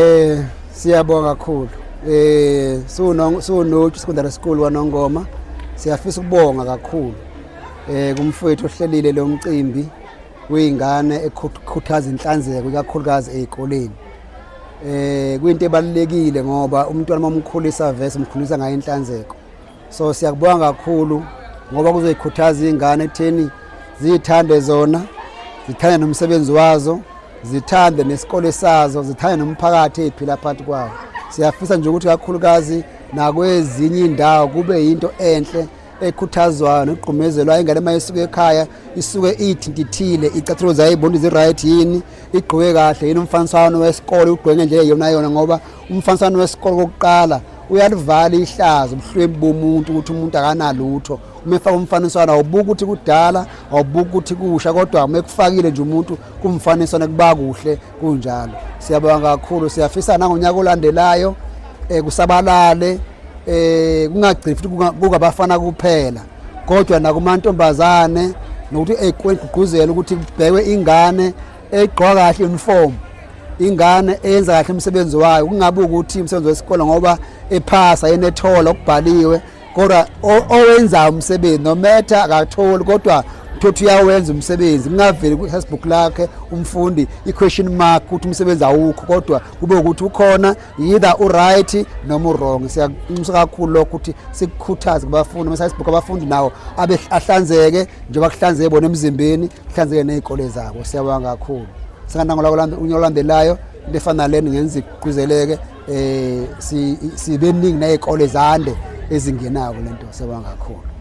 Eh siyabonga kakhulu. Eh suno sunoju secondary school wanongoma. Siyafisa ukubonga kakhulu. Eh kumfowethu ohlelile lo mcimbi uyingane ekhuthaza inhlanzeko ikakhulukazi ezikoleni. Eh kuyinto ebalekile ngoba umntwana omkhulisa vese umkhulisa ngayo inhlanzeko. so siyakubonga kakhulu ngoba kuzoyikhuthaza iy'ngane ekutheni ziyithande zona zithande nomsebenzi wazo zithande nesikole sazo zithande nomphakathi eyiphila phakathi kwawo siyafisa nje ukuthi kakhulukazi nakwezinye indawo kube yinto enhle ekhuthazwayo nogqumezelwayo ingane uma isuke ekhaya isuke iyithintithile icathulo zayo ibona izi-right yini igqoke kahle yini umfaniswano wesikole ugqoke ngendlela yona yona ngoba umfaniswano wesikole kokuqala uyalivala ihlazo ubuhlwembi bomuntu ukuthi umuntu akanalutho uma efaka umfaniswano awubuki ukuthi kudala awubuki ukuthi kusha kodwa uma ekufakile nje umuntu kumfaniswano kuba kuhle kunjalo siyabonga kakhulu siyafisa nangonyaka olandelayo um kusabalale um kungagcini futhi kungabafana kuphela kodwa nakumantombazane nokuthi ekugqugquzela ukuthi kubhekwe ingane egqoka kahle uniform ingane eyenza kahle umsebenzi wayo kungabe ukuthi umsebenzi wesikole ngoba ephasa yena ethola okubhaliwe kodwa owenzayo umsebenzi nometha akatholi kodwa thothi uyawenza umsebenzi kungaveli kwi-facebook lakhe umfundi i-question mark ukuthi umsebenzi awukho kodwa kube ukuthi ukhona either uright noma urong siyakunxusa kakhulu lokho ukuthi sikukhuthaze kubafundi mesayisibhuka abafundi nawo abe ahlanzeke njengoba kuhlanzeke bona emzimbeni kuhlanzeke nezikole zabo siyabonga kakhulu singanangolako unyolandelayo into efana leni ngenza igquzeleke eh sibeningi nezikole zande ezingenako lento siyabonga kakhulu